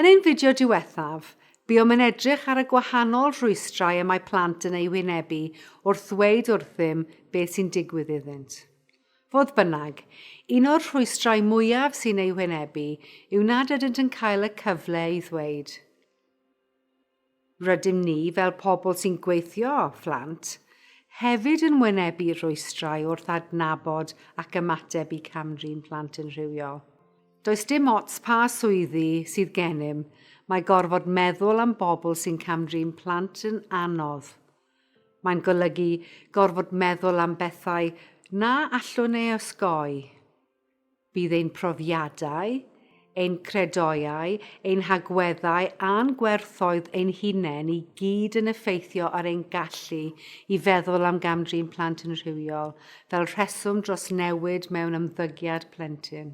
Yn ein fideo diwethaf, buom yn edrych ar y gwahanol rhwystrau y mae plant yn eu hwynebu wrth ddweud wrthym beth sy'n digwydd iddynt. Fodd bynnag, un o'r rhwystrau mwyaf sy'n eu hwynebu yw nad ydynt yn cael y cyfle i ddweud. Rydym ni, fel pobl sy'n gweithio â phlant, hefyd yn wynebu rhwystrau wrth adnabod ac ymateb i cam-drin plant yn rhywiol. Does dim ots pa swyddi sydd gennym, mae gorfod meddwl am bobl sy'n cam-drin plant yn anodd. Mae'n golygu gorfod meddwl am bethau na allwn ei osgoi. Bydd ein profiadau, ein credoau, ein hagweddau a'n gwerthoedd ein hunain i gyd yn effeithio ar ein gallu i feddwl am gam-drin plant yn rhywiol fel rheswm dros newid mewn ymddygiad plentyn.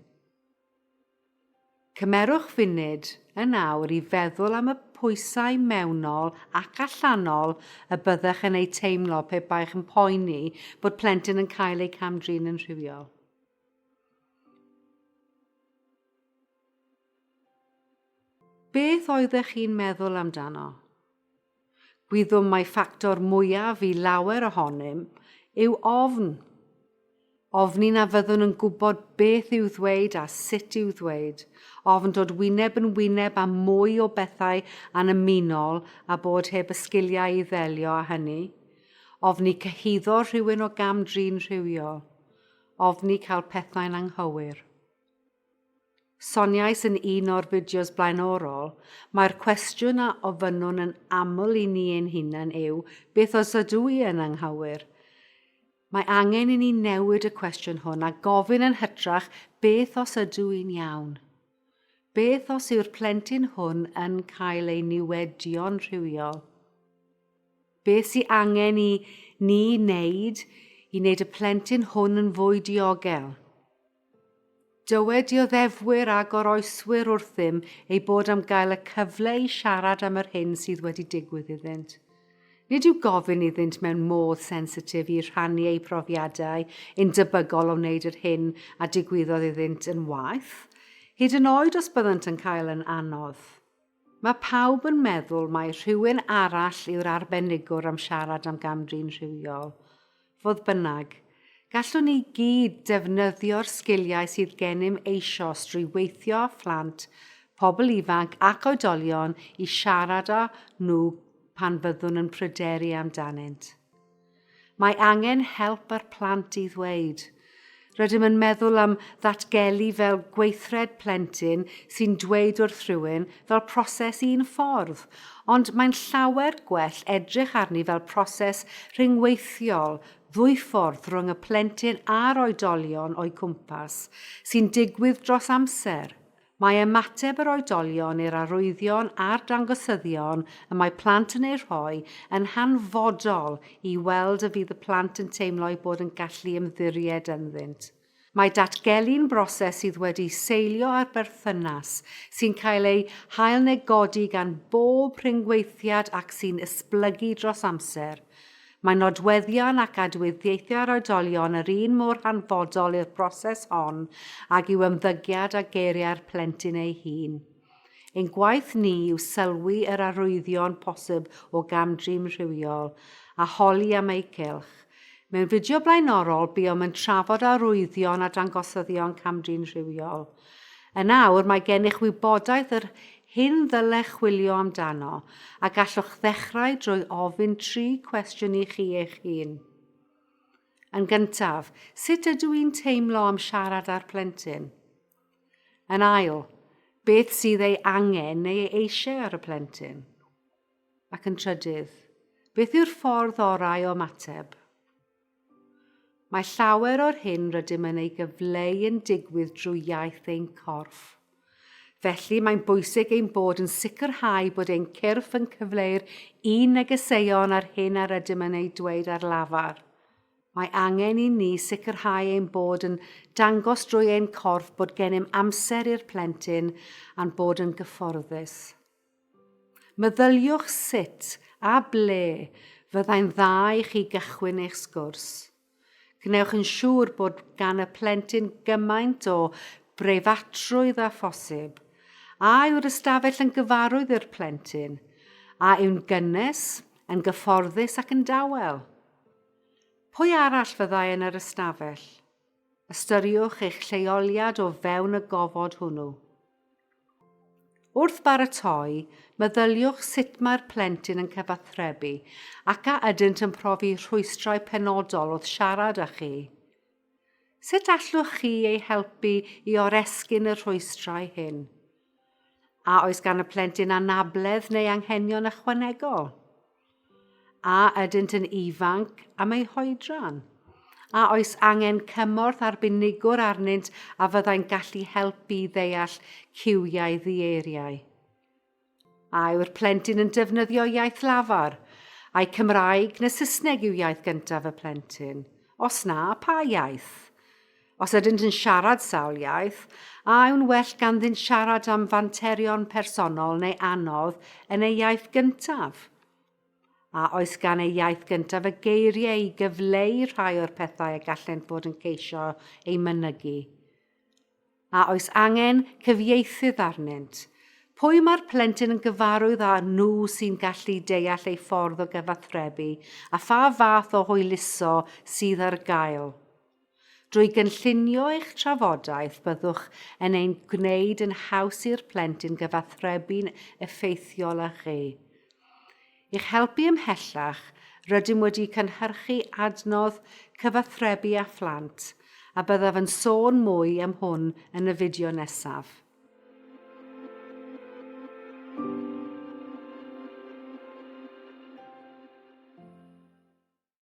Cymerwch funud yn awr i feddwl am y pwysau mewnol ac allanol y byddech yn eu teimlo pe baech yn poeni bod plentyn yn cael eu cam-drin yn rhywiol. Beth oeddech chi'n meddwl amdano? Gwyddom mai ffactor mwyaf i lawer ohonym yw ofn. Ofni na fyddwn yn gwybod beth i'w ddweud a sut i'w ddweud, ofn dod wyneb yn wyneb â mwy o bethau annymunol a bod heb y sgiliau i ddelio â hynny, ofni cyhuddo rhywun o gam-drin rhywiol, ofni cael pethau'n anghywir. Soniais yn un o'r fideos blaenorol, mae'r cwestiwn a ofynnwn yn aml i ni ein hunain yw, beth os ydw i yn anghywir? Mae angen i ni newid y cwestiwn hwn a gofyn yn hytrach, beth os ydw i'n iawn? Beth os yw'r plentyn hwn yn cael ei niwedio'n rhywiol? Beth sy'n angen i ni wneud i wneud y plentyn hwn yn fwy diogel? Dywed dioddefwyr a goroeswyr wrthym eu bod am gael y cyfle i siarad am yr hyn sydd wedi digwydd iddynt. Nid yw gofyn iddynt mewn modd sensitif i rhannu eu profiadau yn debygol o wneud yr hyn a digwyddodd iddynt yn waeth, hyd yn oed os byddant yn cael yn anodd. Mae pawb yn meddwl mai rhywun arall yw'r arbenigwr am siarad am gam-drin rhywiol. Fodd bynnag, gallwn ni gyd defnyddio'r sgiliau sydd gennym eisoes drwy weithio â phlant, pobl ifanc ac oedolion i siarad â nhw pan fyddwn yn pryderu amdanynt. Mae angen help ar plant i ddweud. Rydym yn meddwl am ddatgelu fel gweithred plentyn sy'n dweud wrth rhywun fel proses un ffordd, ond mae'n llawer gwell edrych arni fel proses rhyngweithiol ddwyffordd rhwng y plentyn a'r oedolion o'u cwmpas, sy'n digwydd dros amser, Mae ymateb yr oedolion i'r arwyddion a'r dangosyddion y mae plant yn eu rhoi yn hanfodol i weld y fydd y plant yn teimlo eu bod yn gallu ymddiried ynddynt. Mae datgelu'n broses sydd wedi seilio ar berthynas, sy'n cael ei hailnegodi gan bob rhyngweithiad ac sy'n esblygu dros amser. Mae nodweddion ac adwyddiaethau ar oedolion yr un mor hanfodol i'r broses hon ag yw ymddygiad a geiriau'r plentyn ei hun. Ein gwaith ni yw sylwi yr arwyddion posib o gam-drin rhywiol, a holi am eu cylch. Mewn fideo blaenorol, buom yn trafod arwyddion a dangosyddion cam-drin rhywiol. Yn awr mae gennych wybodaeth yr hyn ddylech chwilio amdano a gallwch ddechrau drwy ofyn tri cwestiwn i chi eich hun. Yn gyntaf, sut ydw i'n teimlo am siarad â'r plentyn? Yn ail, beth sydd ei angen neu ei eisiau ar y plentyn? Ac yn trydydd, beth yw'r ffordd orau o ymateb? Mae llawer o'r hyn rydym yn ei gyfleu yn digwydd drwy iaith ein corff. Felly, mae'n bwysig ein bod yn sicrhau bod ein cyrff yn cyfleu'r un negeseuon a'r hyn a rydym yn ei dweud ar lafar. Mae angen i ni sicrhau ein bod yn dangos drwy ein corff bod gennym amser i'r plentyn a'n bod yn gyfforddus. Meddyliwch sut a ble fyddai'n dda i chi gychwyn eich sgwrs. Gwnewch yn siŵr bod gan y plentyn gymaint o breifatrwydd â phosib. A yw'r ystafell yn gyfarwydd i'r plentyn? A yw'n gynnes, yn gyfforddus ac yn dawel? Pwy arall fyddai yn yr ystafell? Ystyriwch eich lleoliad o fewn y gofod hwnnw. Wrth baratoi, meddyliwch sut mae'r plentyn yn cyfathrebu ac a ydynt yn profi rhwystrau penodol wrth siarad â chi. Sut allwch chi ei helpu i oresgyn y rhwystrau hyn? A oes gan y plentyn anabledd neu anghenion ychwanegol? A ydynt yn ifanc am eu hoedran? A oes angen cymorth arbenigwr arnynt a fyddai'n gallu helpu i ddeall cywiau ddieiriau? A yw'r plentyn yn defnyddio iaith lafar? Ai Cymraeg neu Saesneg yw iaith gyntaf y plentyn? Os na, pa iaith? Os ydynt yn siarad sawl iaith, a yw'n well ganddynt siarad am fanterion personol neu anodd yn eu iaith gyntaf? A oes gan eu iaith gyntaf y geiriau i gyfleu rhai o'r pethau y gallent fod yn ceisio eu mynygu? A oes angen cyfieithydd arnynt? Pwy mae'r plentyn yn gyfarwydd â nhw sy'n gallu deall ei ffordd o gyfathrebu a pha fath o hwyluso sydd ar gael? Drwy gynllunio eich trafodaeth byddwch yn ein gwneud yn haws i'r plentyn gyfathrebu'n effeithiol â chi. I'ch helpu ymhellach, rydym wedi cynhyrchu adnodd Cyfathrebu â Phlant, a byddaf yn sôn mwy am hwn yn y fideo nesaf.